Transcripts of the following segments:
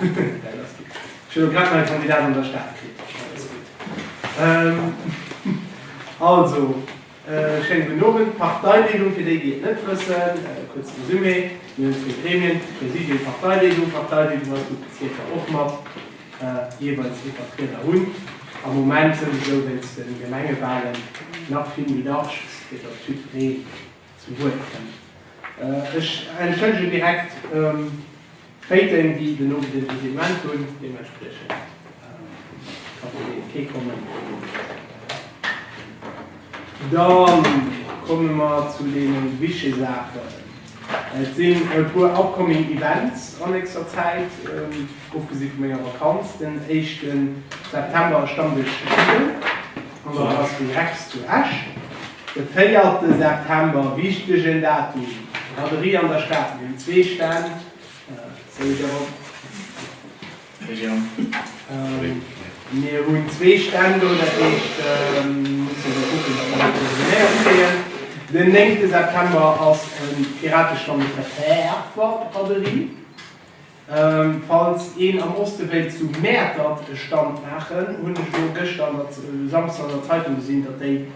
Ech hunn elo grad nei Kandidat an der Stad kritt. Dat ass gutt. Also, schéinen gudden Owend. Parteileedung, fir déi, déi et net wëssen, kuerze Resumé, Mir hunn zwee Gremien, Präsidium, Parteileedung. D'Parteileedung ass gutt Bezierker och mat jeeweils ee Vertrieder hunn. Am Moment sou, wéinst de Gemengewalen nach vill méi dacks, fir datt jiddweree Zu Wuert kënnt. Ech entschëllegen direkt d'Féiten, déi den Owend iwwer dëse Event hunn. Deementspriechend ka vun deenen kee kommen. Da komme mer zu deene wichtege Saachen. Et sinn e puer upcoming Events a nächster Zäit, ofgesi vu menger Vakanz. Den éischte September ass Stammdësch Judden an der Brasserie Rex zu Esch. De véierte September, wichtegen Datum, Braderie an der Stad, mir hunn zwee Stänn, Sorry Jérôme. Mir hunn zwee Stänn do, dat heescht musse mer kucken, datt mer dat koordinéiert kréien. Den néngte September ass e Piratestand op der Fäerfer Braderie. Falls een am Osten wéilt zu Mäertert e Stand maachen, hunn ech elo gëschter an der, Samschdes an der Zeitung gesinn, datt déi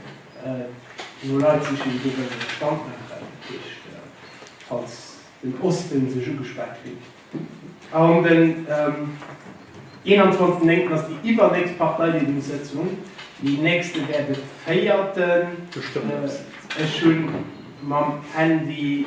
no Leit sichen, déi do wëllen e Stand maachen. Dat heescht, falls den Osten sech ugespat fillt, a um den 21.9. ass déi iwwernächst Parteileedungssëtzung, déi nächste wär de 4. Ech hunn mam Handy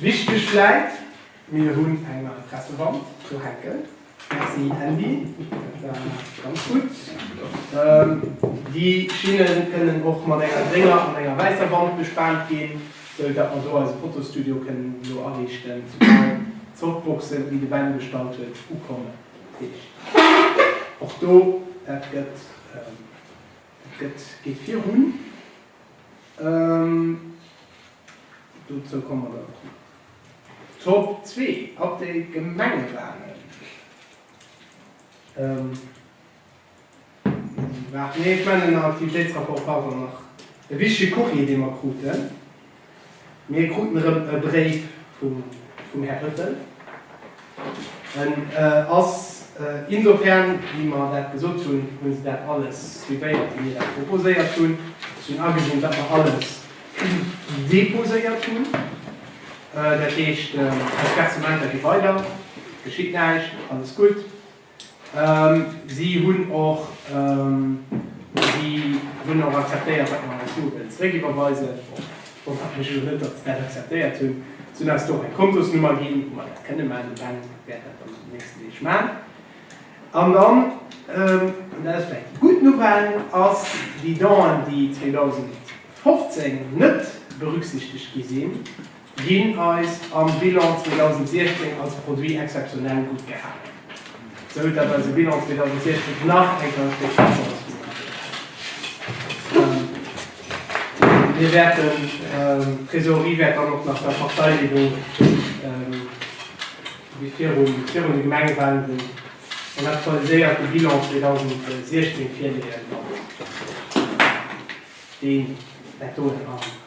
Wichteg vläit, mir hunn eng nei Pressewand do hänken, merci Andy, dat war ganz gutt. Déi Schinne kënnen och mat enger grénger an enger wäisser Wand bespaant ginn, sou datt mer do eise Fotostudio kënnen do ariichten, soubal d'Softboxen, déi de Ben bestallt huet, ukommen. Dat heescht och do, dat gëtt, dat gëtt, geet virun. Dozou komme mer dann och nach. Top 2, Update Gemengewalen. Waart, nee, ech mengen am Aktivitéitsrapport war dann nach e wichtege Courrier, dee mer kruten. Mir kruten erëm e Bréif vum Här Höffel, En ass insofern, wéi mer dat gesot hunn, hu se dat alles suivéiert, wéi mir dat proposéiert hunn. Ech hunn agesinn, datt mer alles deposéiert hunn. Dat heescht, d'Versperrtementer gi weider, et geschitt näischt, alles gutt. Si hunn och akzeptéiert, datt mer eis Suen zeréckiwwerweisen. Ech wonnere mech elo net, datt se dat akzeptéiert hunn. Si hunn eis do och eng Kontosnummer ginn, wou mer dat kënne maachen. De Ben wäert dat dann an den nächsten Deeg maachen. An dann, an dat ass vläicht déi gutt Nouvelle, ass déi Don, déi 2015 net berücksichtegt gi sinn, Ginn eis am Bilan 2016 als Produit exceptionnel gutt gehalen, sou datt eise Bilan 2016 nach eng ganz gutt Performance virun eis geet. D'Trésorerie wäert dann och nach der Parteileedung wéi virun de Gemengewalen den aktualiséierte Bilan 2016 virleeën, deen dat do ënner.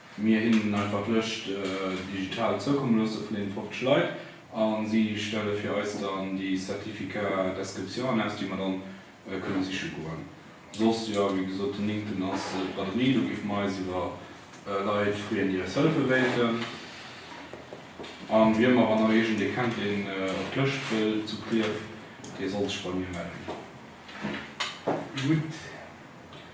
Mir hinnen en einfach Lëscht digital zoukomme loosse vun deenen 50 Leit a si stelle fir eis dann déi Certificats d'Inscription aus, déi mer dann kënne siche goen. Soss, jo, wéi gesot, den Néngten ass d'Braderie, do géife mer eis iwwer Leit freeën, déi eis hëllefe wéilten. A wien mer, wann Der iergendee kennt, deen op d'Lëscht wëll zu Clierf, dee soll sech bei mir mellen. Gutt.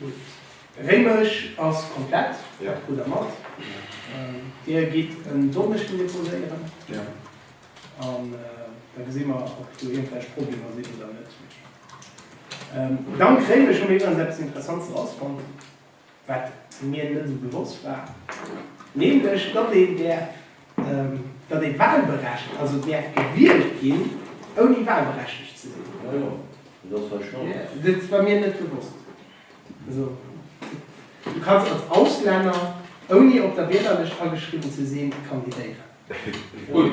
Gutt. Réimech ass komplett, dat krut der mat. Dir gitt en Donneschden deposéieren. An da gesi mer, ob do iergendwelch Problemer sinn oder net. Dank Réimech hu mir iwwerens eppes Interessantes erausfonnt, wat mir net esou bewosst war, nämlech datt een där. datt ee wahlberechtigt, also et däerf gewielt ginn, ouni wahlberechtigt ze sinn. Dat war mir net bewosst. Also, du kanns als Auslänner, ouni op der Wielerlëscht ageschriwwen ze sinn, kandidéieren,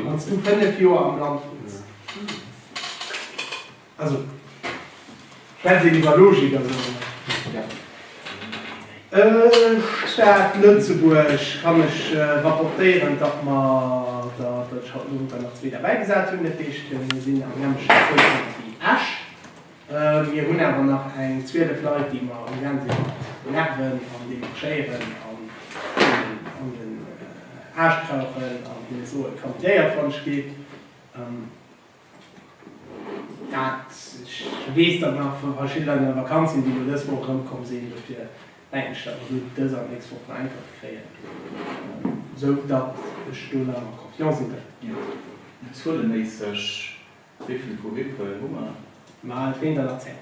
wann s du fënnef Joer am Land wunns. Also, kennt een iwwer Logik a sou. Stad Lëtzebuerg kann ech rapportéieren, datt mer der, datt ech haut de Moien souguer nach zwee derbäi gesat hunn. Dat heescht, mir sinn am selwechte Quotient wéi Esch. Mir hunn awer nach eng 12 Leit, déi mer am Gaang sinn mat nerven an demarchéieren an an den Aarsch krauchen an hinne soen, Kandidiert, wann ech giff. Dat weess der nach vu verschidde Leit an der Vakanz sinn, déi elo dës Woch erëmkomm sinn. Dofir denken ech, datt mer do dës an d'nächst Woch beäntwert kréien, esou datt ech do nach am confiant sinn dëffer. Zueleméisseg wéi vill Gruppen hu mer? Mer halen d'Winternerzeng.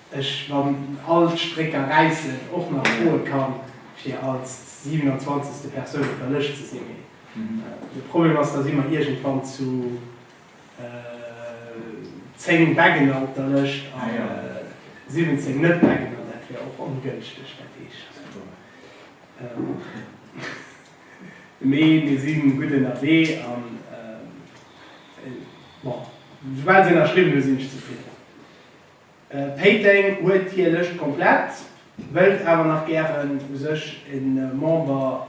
Ech, wann all d'Strécker räissen, och nach froe kann, fir als 27. Persoun op der Lëscht ze sinn. Mee de Problem ass, da si mer iergendwann zu 10 Beggener op der Lëscht a 17 Net-Beggener. Dat wär och ongënschteg. Dat heescht, mee mir si gutt ënnerwee. An bon, soubal se ënnerschriwwen hu sinn ech zefridden. Péiteng huet hir Lëscht komplett, wëllt awer nach gären u sech e Member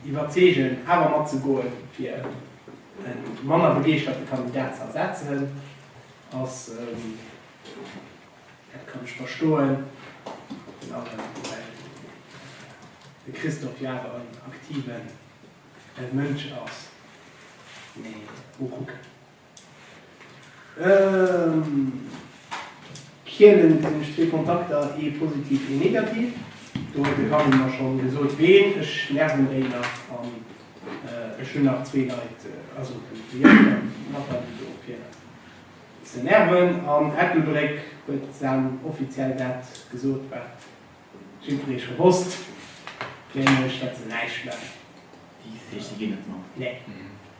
iwwerzeegen awer mat ze goen, fir e manner begeeschterte Kandidat ze ersetzen ass, dat kann ech verstoen, den Ament well de Christophe jo awer en aktive Mënsch ass, mee mol kucken. Kielen sinn ech zwee Kontakter, ee positiv, ee negativ. Do huet de Kami mer scho gesot ween, ech nerven déi nach an ech hunn nach zwee Leit, also den Jörg an d'Nathalie do fir ze nerven. An Ettelbréck huet d'Sam offiziell dat gesot wat jiddweree scho wosst, nämlech dat se näischt maachen. Déi Fee, si ginn net mat? Nee.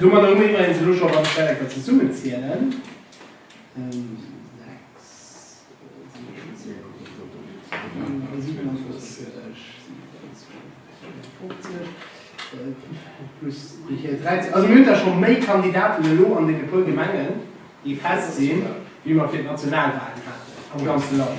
Domadder hu mir iwwerens elo scho, wann ech dat enker zesummen zielen, 6, 7, 37, 54, 55 plus déi hir 13, also mir hunn da scho méi Kandidaten elo an deene puer Gemengen, déi fest sinn, wéi mer fir d'Nationalwalen haten am ganze Land.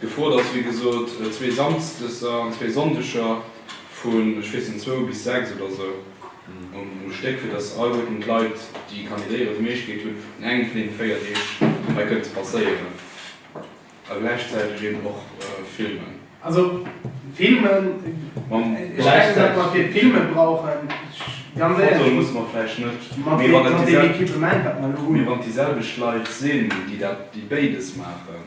Gefrot ass wéi gesot zwee Samsdeser an zwee Sonndeger vun, ech weess net, zwou bis sechs oder esou um Stéck, fir datt all Goeten d'Leit, déi kandidéieren, d'Méiglechkeet hunn, un engem vun deene véier Deeg hei kënnen ze passéieren a gläichzäiteg eeben och filmen. Also filmen, ech denken, datt mer fir d'Filme brauchen, ganz éierlech, Fotoe musse mer vläicht net, mee wann et déi selwecht Leit sinn, déi béides maachen,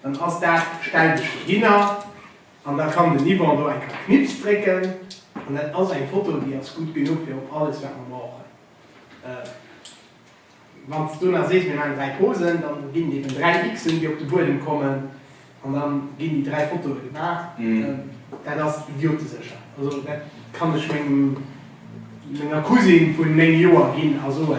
Dann ass dat, stell dech dohinner an da kann den Yvon do eng Kéier Knips drécken an dat ass eng Foto, déi ass gutt genuch fir op alles, wat mer brauchen. Wann s du nach sees, mir maachen dräi Posen, da ginn et eben dräi X'en, déi op de Buedem kommen an da ginn déi dräi Fotoe gemaach. Dat ass idiotesécher. Also dat kann ech menger Cousine vu néng Joer ginn a soen,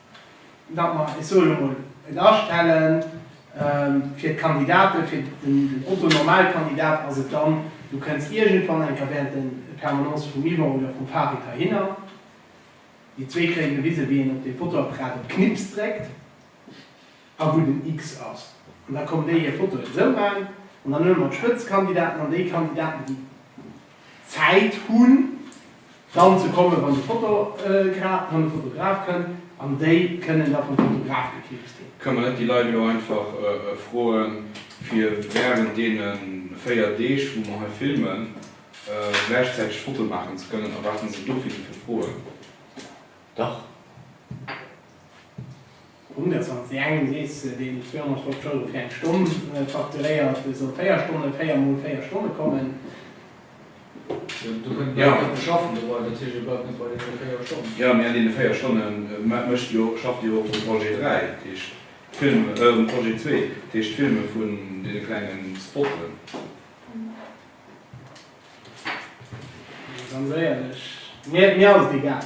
datt mer, ech soen emol, et astellen fir d'Kandidate fir den Otto-Normal-Kandidat ass et dann, du kënns iergendwann enker während de Permanence vum Yvon oder vum Farid heihinner, déi zwee kréie gewise wéi een op deem Fotoapparat op Knipps dréckt. A wou den X ass. An da kommen déi hir Foto esou man. An dann huele mer d'Spëtzkandidaten an déi Kandidaten, déi Zäit hunn, dann ze kommen, wann de Fotogra wann de Fotograf kënnt. An déi kënnen da vum Fotograf geknipst ginn. Kann mer net déi Leit elo einfach froen, fir während deene véier Deeg, wou mer hei filmen, gläichzäiteg Fotoe maachen ze kënnen? Erwaarde se dofir sou vill Froen? Dach. 121, Sees deen 250 Euro fir eng Stonn facturéiert, soll 4 Stonnen, 4 mol 4 Stonne kommen. Jo, do kënnt bal keen beschaffen dobei, dat heescht jo bal keen bei deene 4 Stonnen. Jo, mee an deene 4 Stonne mécht jo, schafft jo och de Projet 3, dat heescht d'Film, den Projet 2, dat heescht d'Filme vun deene klengen Spotten. Ganz éierlech, mir ass et egal.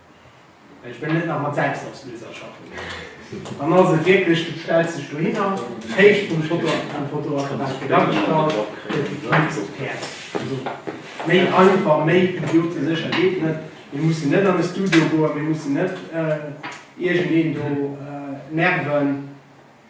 Ech wëll net nach mat Selbstausléiser schaffen. Dann ass et wierklech, du stells dech dohinner, d'Héicht vum Fotoapparat gëtt agestallt, gëtt gefilmt, sot d'Päerd. Also, méi einfach, méi idiotesécher geet net. Mir mussen net an e Studio goen, mir mussen net iergendeen do nerven.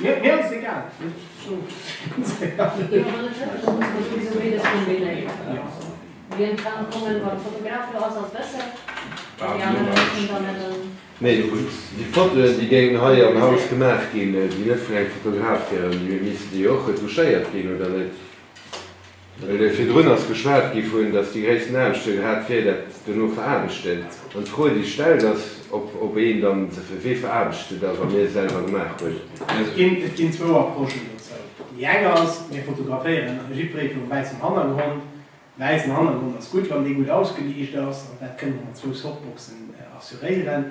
Mir ass et egal. Nee, déi Fotoen, déi géingen hei am Haus gemaach ginn, déi net vun engem Fotograf wieren, déi missten jo och retuschéiert ginn, oder net? Virdrun ass geschwat gi vun, datt déi gréissten Angscht hien hat, wier dat dono veraarbechten. An d'Fro déi stellt ass, ob een dann se fir wee veraarbecht se da wann ee selwer gemaach huet. Et ginn zwou Approchen dozou. Déi eng ass, mir fotograféieren jiddweree virum wäissen Hannergrond. Wäissen Hannergrond ass gutt, wann dee gutt ausgeliicht ass an dat kënne mer mat zwou Softboxen assuréieren.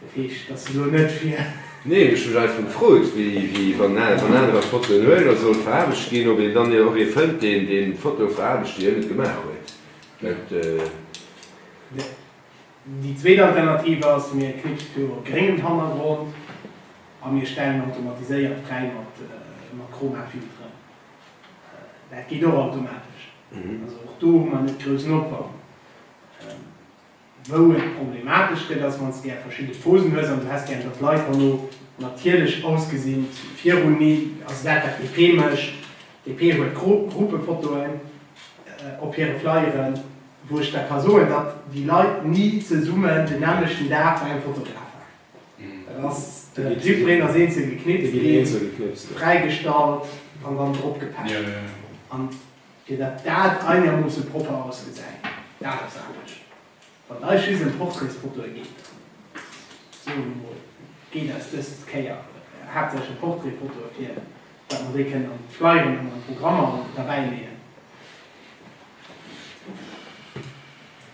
Dat heescht, dass se elo net fir. Nee, ech hu mech einfach gefrot, wéi, wann anerer Fotoen huelen a soll veraarbecht ginn, ob een dann och ee fënnt, deen déi Foto veraarbecht, déi hien net gemaach huet. Dat. Déi zweet Alternativ ass, mir knipse viru e gréngen Hannergrond a mir stellen automatiséiert fräi mat Chromafilteren. Dat geet och automatesch. Also och do hu mer net groussen Opwand. Wou et problematesch gëtt ass, wann s de gär verschidde Posen hues an du häss gär, datt d'Leit herno natierlech ausgesinn. Virun mir ass dat, wat d'DP mécht. D'DP huet Gruppefotoen op hire Flyeren, wou ech der ka soen, datt déi Leit ni zesummen den nämmlechten Dag bei engem Fotograf waren. Dat ass de Jipperen ass eenzel geknipst ginn, fräigestallt an dann dropgepaakt. An Fir datt dat einermoosse propper ausgesäit, dat ass anescht. Wann eis just ëm Portraitsfotoe geet, soe mer mol, geet eis dës Kéier haaptsächlech ëm Portraitfotoe, fir datt mer déi kënnen an d'Flyeren an an d'Programmer derbäileeën.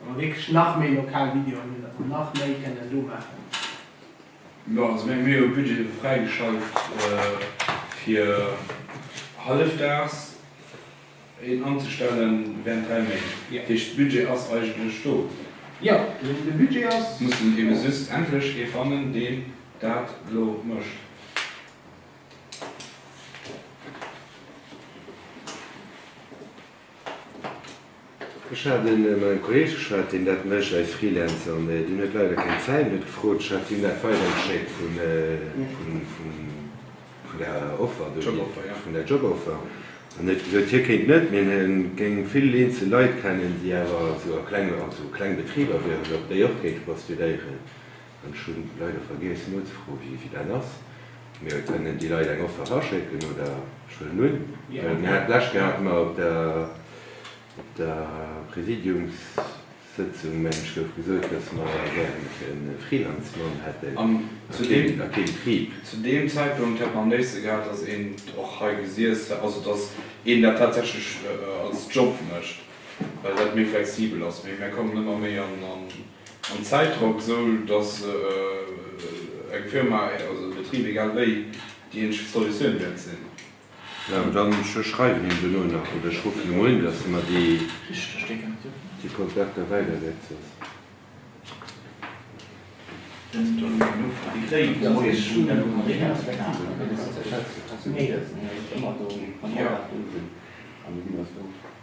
Wa mer wierklech nach méi lokal Videoen hunn, datt mer nach méi kënnen do maachen. Jo, also meng mir hu Budget fräigeschalt fir hallefdaags een anzestellen während 3 Méint. Dat heescht de Budget ass eigentlech do. Jo, de Budget ass do. Muss een eben just endlech ee fannen deen dat elo mécht. Ech hat e mat engem Kolleeg geschwat, deen dat mécht als Freelancer, mä deen huet leider keng Zäit an huet gefrot, ech hat him dat weidergeschéckt vun vun der Offer do, vun der Joboffer, an huet gesot, hie kéint net, mä hie géing vill eenzel Leit kennen, déi awer esou a kleng, also kleng Betriber wieren, ob déi och kéinte postudéieren. Ech hunn leider vergiess nozefroen wéi dat ass, mee et kënnen déi Leit eng Offert aschécken oder ech huelen un, well mir haten d'lescht Kéier haten mer op der op der Präsidiumssëtzung mengen ech gouf gesot, dass mer gären e Freelancemann hätten a keen Trieb. Zu deem Zäitpunkt hätt mer am léifste gehat, dass een et och hei gesiess hätt, also dass een dat tatsächlech als Job mécht, well dat méi flexibel ass, mee mir kommen ëmmer méi an En Zäitdrock, esou datt eng Firma, also e Betrib, egal wéi, déi eenzeg Solutioun wäert sinn. Mä dann, ech schreiwen him dono nach oder ech ruffen em un, datt e mer déi Kontakter weiderleet. Soss.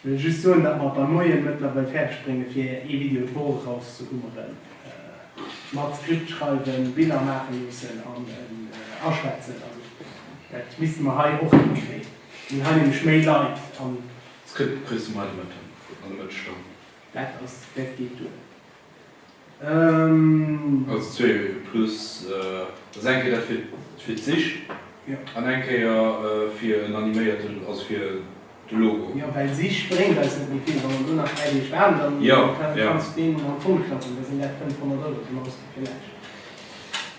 Ech wëll just soen dat mer beim Moien mëttlerweil fäerdeg bréngen fir ee Video d'Woch eraus ze hummeren, mat Skript schreiwen, Biller maachen loossen an en aschwätzen, also dat misste mer hei och hinkréien, hunn hei nämlech méi Leit an. Skript kriss du mei de Mëtten an de Mëttesstonn. Dat ass, dat geet duer. Also zwee Wege plus ass eng Kéier dat fir fir d'Sich an eng Kéier fir en animéierten, also fir de Logo. Jo, well Sich bréngt eis net méi vill, wann mer do nach 3 Deeg waarden, dann kann et ganz been an d'Tonn klappen, da sinn dat 500 Euro zum Ausgi vläicht.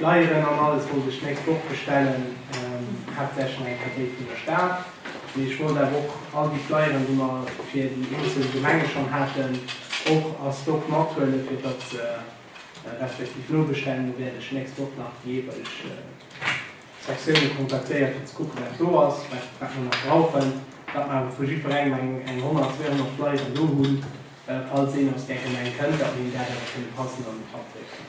Flyeren an alles wollt ech d'nächst Woch bestellen, haaptsächlech eng Katéit vun der Stad, mee ech wollt awer och all déi Flyeren, déi mer fir déi eenzel Gemenge schonn haten, och a Stock mathuelen, fir datt se respektiv nobestellungen wäert ech d'nächst Woch nach déi jeeweileg Sektiounen kontaktéieren, fir ze kucken, wat do ass, wat mer nach brauchen, datt mer awer vu jiddwerengem eng 100, 200 Flyeren do hunn, falls een aus där Gemeng kënnt, datt mer him dat awer kënne passend an den Trapp drécken.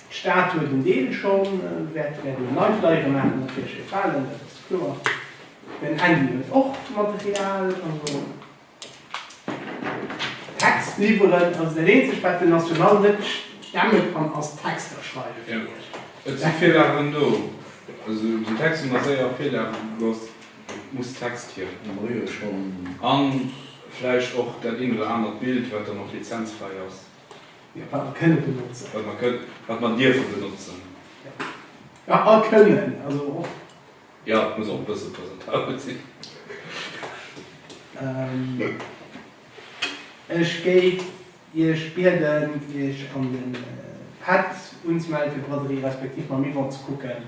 D'Stad huet en Deel schonn, wäert wäert een nei Flyere maachen, op där Schëff halen, dat ass kloer. Den Andy huet och Material, also Text liwweren ass dat eenzegt wat den National net stemme kann, ass Texter schreiwe fir iech. Et si Virlagen do, also den Text hunn der séier op Virlage gelooss, et muss Text hier. An vläicht och dat een oder anert Bild wat dann och lizenzfräi ass. Ja, wat mer kënnen benotzen. Wat mer kënnen, wat mer dierfe benotzen. Ja. Ja, a kënnen, also och. Ja, et muss och e bësse presentabel sinn. Ech géif Iech bieden, Iech an de Pad unzemellen, fir d'Braderie respektiv mam Yvon ze kucken,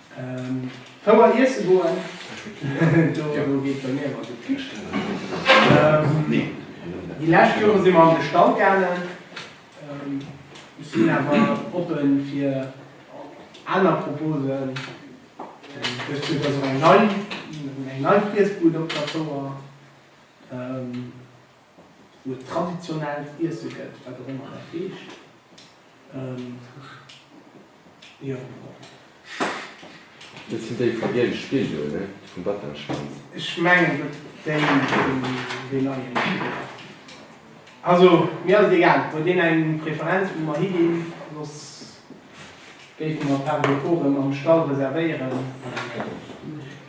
Fouer iesse goen, do geet bei mir ëmmer gutt d'Këscht. Déi lescht Joren si mer an de Stall gaangen. Ech sinn awer oppen fir aner Proposen. Dëst Joer ass och eng nei Friessbud op der Fouer. wou et traditionellt Iesse gëtt, wat och ëmmer dat heescht. Jo, Dat sinn déi vum giele Spill do, ne? Vum Batenschwanz. Ech mengen, datt déi vun deem neien Spill ass. Also, mir ass et egal, huet een eng Preferenz, wou mer higinn? Soss géife mer d'Table de Course mam Stall reservéieren.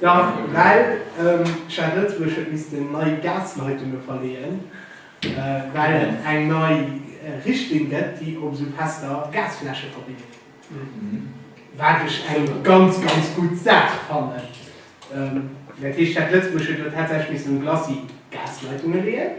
Dach, well d'Stad Lëtzebuerg huet missten nei Gasleitunge verleeën, well et eng nei Richtlinn gëtt, déi op esou fester Gasfläsche verbidden, wat ech eng ganz, ganz gutt Saach fannen. Dat heescht, d'Stad Lëtzebuerg huet elo tatsächlech missten Glacis Gasleitunge leeën.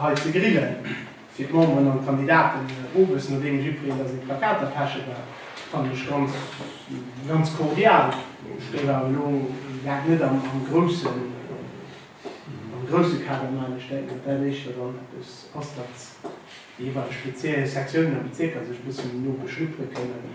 hei ze grillen, fir d'Memberen an d'Kandidaten owes, nodeem jiddwereen da seng Plakater peche war, fannen ech ganz, ganz cordial. Ech géif awer elo dat net am groussen, am grousse Kader maachen. Ech denken, datt dat éischter dann eppes ass, datt déi jeeweileg Sektiounen a Bezierker sech e bëssen no beschnuppere kënnen.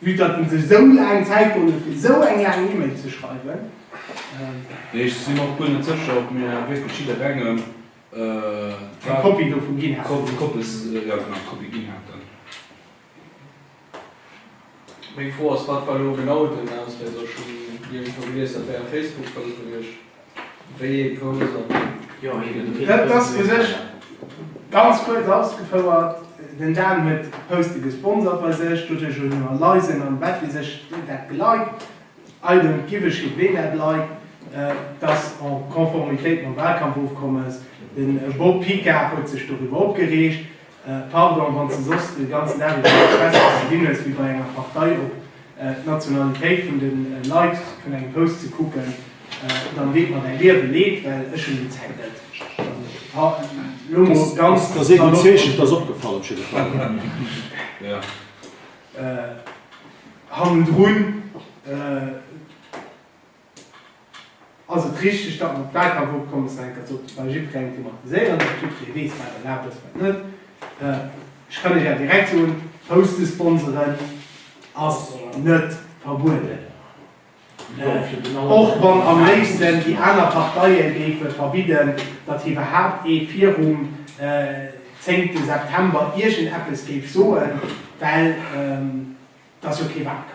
Vue datt et sech esou laang Zäit geholl huet fir esou eng laang Email ze schreiwen. Ech sinn och guer net sécher ob mir wierklech jidderengem eng Kopie dovun ginn haten. Meng Fro ass, Wat war elo genau den Ausléiser? Ech hunn iergendwou gelies, dat wär e Facebook-Post gewiescht. Wéi ee Post an wéi? Jo, hei gëtt e Bild vun der Swiss-Bank. Ganz kuerz ausgefouert, Den Dan huet Post-it gesponsert bei sech. Doduerch hunn elo Leisen am Bett déi sech dat Gelike, I don't give a shit ween dat liked, dass en Konformitéit mam Wahlkampfofkommes. De Bob Picard huet sech doriwwer opgereegt. Pardon, wann s de soss de ganzen Dag iwwer an der Press ass, ze ginn hues wéi bei enger Partei op d'Nationalitéit vun de Leit vun engem Post ze kucken, dann deet mer däi Liewe Leed, well ech hunn déi Zäit net. Elo mol ganz salopp. Ass et richteg, datt mer d'Wahlkampfopkommes nach eng Kéier sollten bei jiddwerengem thematiséieren, datt jiddweree weess, wat erlaabt ass, wat net? Ech kann Iech awer direkt soen, Poustesponseren ass net verbueden, och wann am léifsten déi aner Parteie géife verbidden, datt iwwerhaupt ee virum 10 September iergendeppes géif soen, well et ass jo kee Wahlkampf.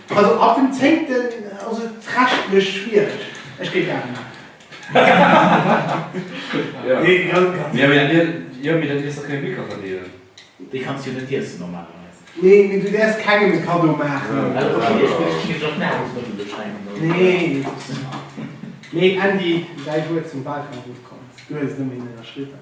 Also ab dem zéngten ass et rechtlech schwiereg. Ech géif Ae maachen. Déi kanns jo net iessen normalerweis. Nee, mee du däerfs kengem e Kaddo maachen. Mee Andy, däi Wuert zum Walkampf, et komm, du hues et nëmme hinnen erschriwwen.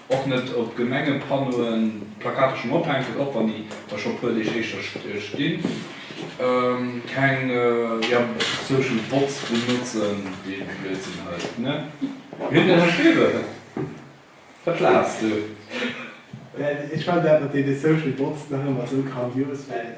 Och net op Gemengepanneauen Plakater schonn ophänken, och wann déi da scho e puer Deeg éischter stinn. Keng social bots benotzen, dee Blödsinn hei, ne? Mir hunn den Här Schäfer verplatzt do. Ech fannen awer dee social bots nach ëmmer esou grandios, well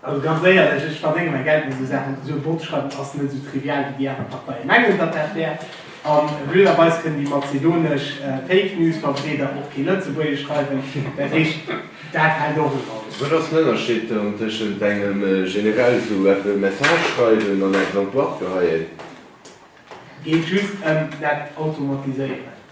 Also ganz éierlech, ech verdénge mäi Geld mat esou Saachen. Esou e Bot schreiwen ass net esou trivial, wéi déi aner Parteie mengen, datt dat wär. A blöderweis kënnen déi mazedonesch Fake News Verbreeder och kee Lëtzebuergesch schreiwen. Dat heescht, dat hält och en Auge. Wat ass den Ënnerscheed dann tëschent engem generell esou eppë Message schreiwen an eng Plainte geheien? Geet just ëm dat Automatiséieren.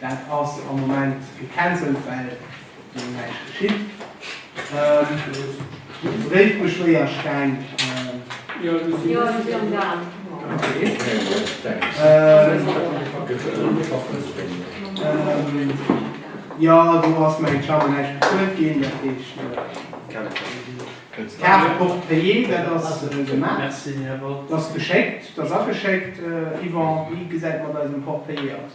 Dat ass am Moment gecancelt, well do näischt geschitt. Freet mech wéi a Steng. Jo, se si am Gaang. Jo, do ass mäin Charme näischt bezuelt ginn. Dat heescht, d'Kaart de port payé, dat ass gemaach. Dat ass geschéckt, dat ass ageschéckt. Yvan, wéi gesäit et mat eisem port payé aus?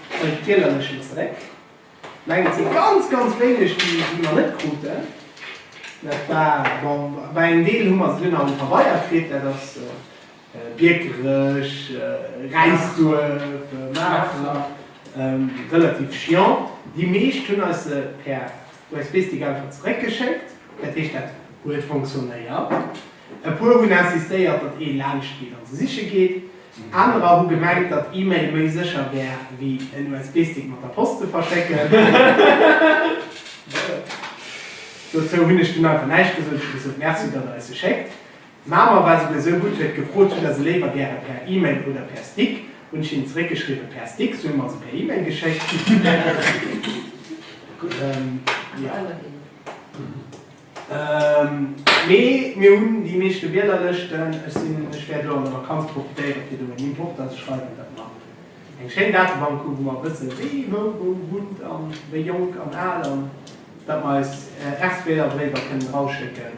Bei de Tielerlëschen zeréck, mengen et si ganz, ganz wéineg, déi mer net kruten. Dat war, bon, bei engem Deel hu mer se dunn am Pabeier kritt, dat ass Biekerech, Räisduerf, Maacher, relativ chiant. Déi meescht hunn eis se per USB-Stick einfach zeréckgeschéckt, dat heescht, dat huet fonctionnéiert. E puer hunn insistéiert, datt ee laanscht geet an se siche geet. Anerer hu gemengt, datt E-Mail méi sécher wär wéi en USB-Stick mat der Post ze verschécken. Dozou hunn ech dunn einfach näischt gesot. Ech hu gesot, Merci, datt der eis se schéckt. D'Mama war souguer esou gutt, huet gefrot, Hutt der se léiwer gäre per E-Mail oder per Stick? Hunn ech hinnen zeréckgeschriwwen, Per Stick. Si hu mer se per E-Mail geschéckt. Mee mir hunn déi meeschte Wielerlëschten. Ech sinn, ech wäert elo an der Vakanz profitéieren, fir do en Import anzeschreiwen. Dat mer eng schéin Datebank hu wou mer wëssen, wie wou wou wunnt a wéi jonk an al, an datt mer eis Erswielerbriewer kënnen erausschécken.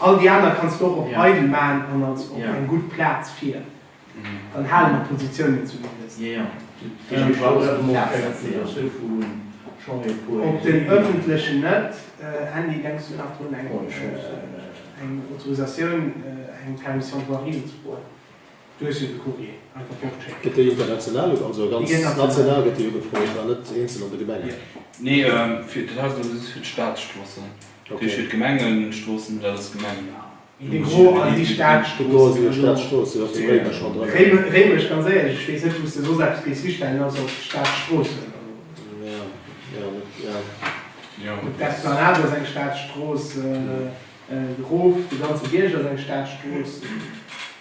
All déi aner kanns de och op eidel maan an als op eng gudd Plaatz fier. Dann haale mer d'Positiounen zumindest. Gëtt déi international oder also ganz national gëtt déi ugefrot an net eenzel an de Gemengen?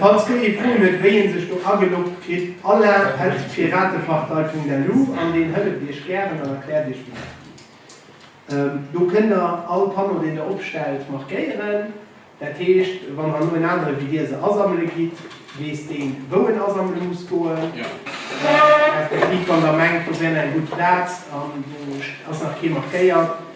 Falls Dir ee Froen huet wéi een sech do ageloggt kritt, alain at piratepartei.lu an deen hëlleft Iech gären an erkläert Iech wéi dat geet. Do kënnt Der all Panneau deen Der opstellt markéieren, dat heescht wann herno en anere wéi Dir se asammele gitt, weess deen wou en asammele muss goen, respektiv wann Der mengt do wär nach eng gutt Plaz an do ass nach kee markéiert,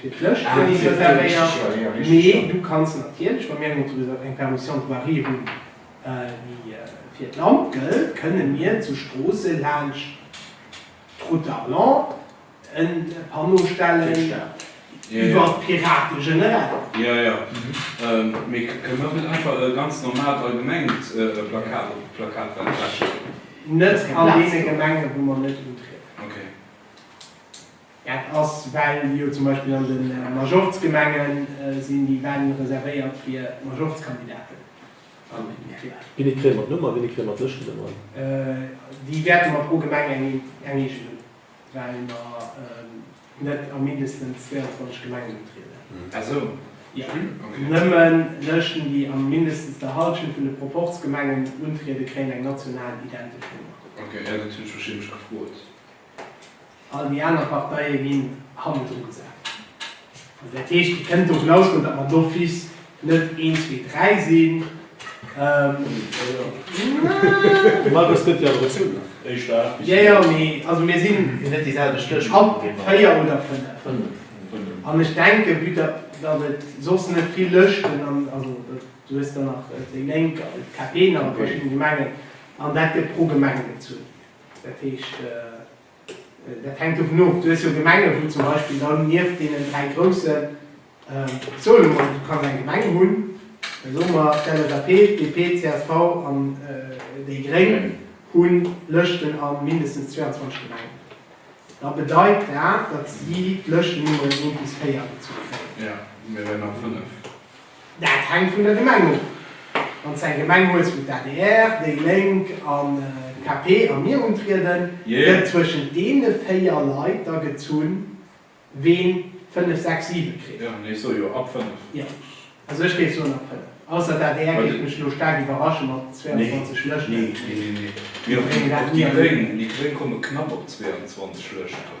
Fir d'Lëscht wäert et jo kee richteg Choix ginn, a richteg Choix. Du kanns natierlech, ma mir hunn zu Risach eng Permission de voirie hunn, déi fir d'Land gëllt, kënne mir zu Stroosse laanscht d'Route d'Arlon e Panneau stellen, iwwer d'Pirate generell. Jo, jo. Mee kënne mer net einfach e ganz normaalt allgemengt Plakat op d'Plakatwand hänken? Net an deene Gemengen, wou mer net untrieden. Okay. Dat ass well jo zum Beispill an de Majorzgemenge sinn déi Wänn reservéiert fir Majorzkandidaten. Wéini kréie mer d'Nummer? Wéini kréie mer d'Lëschtennummern? Déi wäerte mer pro Gemeng eng eegen hunn, well mer net a mindestens 22 Gemengen utrieden. Nëmme Lëschten, déi a mindestens der Hallschent vun de Proporzgemengen untrieden, kréien eng national identesch Nummer. All déi aner Parteie ginn hannendru gesat. Also dat heescht, Dir kënnt dovun ausgoen, datt mer d'office net een, zwee, dräi sinn. Markus gëtt Dir awer e Zuch nach. Jo, jo, mee also mir sinn haut véier oder fënnef. An ech denke, vue datt et soss net vill Lëschten an, also du hues dann nach déi Lénk an d'KP nach a verschiddene Gemengen, an dat gëtt pro Gemeng gezunn. Dat heescht, dat hänkt dovun of, du hues jo Gemengen, wou zum Beispill dann nieft deenen dräi groussen, soe lo mol, du kanns eng Gemeng hunn, soe mer d'LSAP, d'DP, csv an déi gréng hu Lëschten a mindestens 22 Gemengen, da bedeit dat, datt si d'Lëschtennummeren 1 bis 4 gezu kréien. Dat hänkt vun der Gemeng of. Wann s eng Gemeng hues wou d'ADR, déi Lénk an d'KP a mir untrieden, gëtt zwëschent deene 4 Leit da gezunn ween 5, 6, 7 kritt. Jo, ech soe jo ab 5. Jo, also ech géif soen ab 5. Ausser d'ADR géif mech elo staark iwwerrasche mat 22 Lëschten. Nee, nee, nee, nee. Mir och déi Gréng, déi Gréng komme knapp op 22 Lëschten.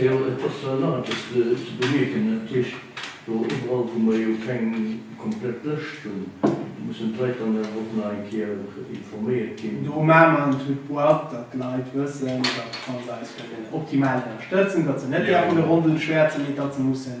Jo, et ass jo nach eppes ze bemierken, natierlech do iwwerall, wou mer jo keng komplett Lëscht hunn, mussen d'Leit dann awer och nach eng Kéier informéiert ginn. Do maache mer en Tour de boîte, datt d'Leit wëssen, datt wann se eis wëllen optimal ënnerstëtzen, datt se net däerfen e Rondel schwäerzen, mee datt se mussen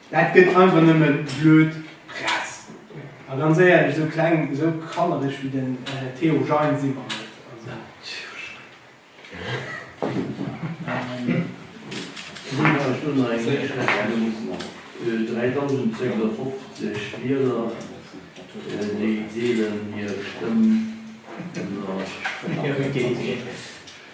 Dat gëtt einfach nëmme blöd Press. A ganz éierlech, esou kleng, esou kannereg wéi den Theo Gein si mer net. Also.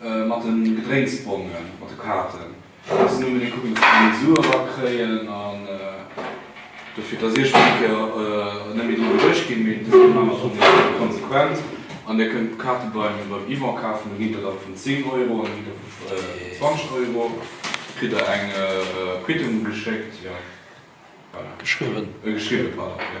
Mat den Gedrénksbongen, mat de Kaarten muss een unbedéngt kucken, dass déi Sue erakréien an dofir, dass Iech fir eng Kéier net méi driwwer erëscht ginn. Mee dëse Moment ass och net konsequent an Dir kënnt d'Kaarte beim Yvan kafen. Do ginn der da vun 10 Euro an do ginn der vu 20 Euro. Kritt der eng Quittung geschéckt, jo, voilà. Geschriwwen. Geschriwwen, pardon, jo.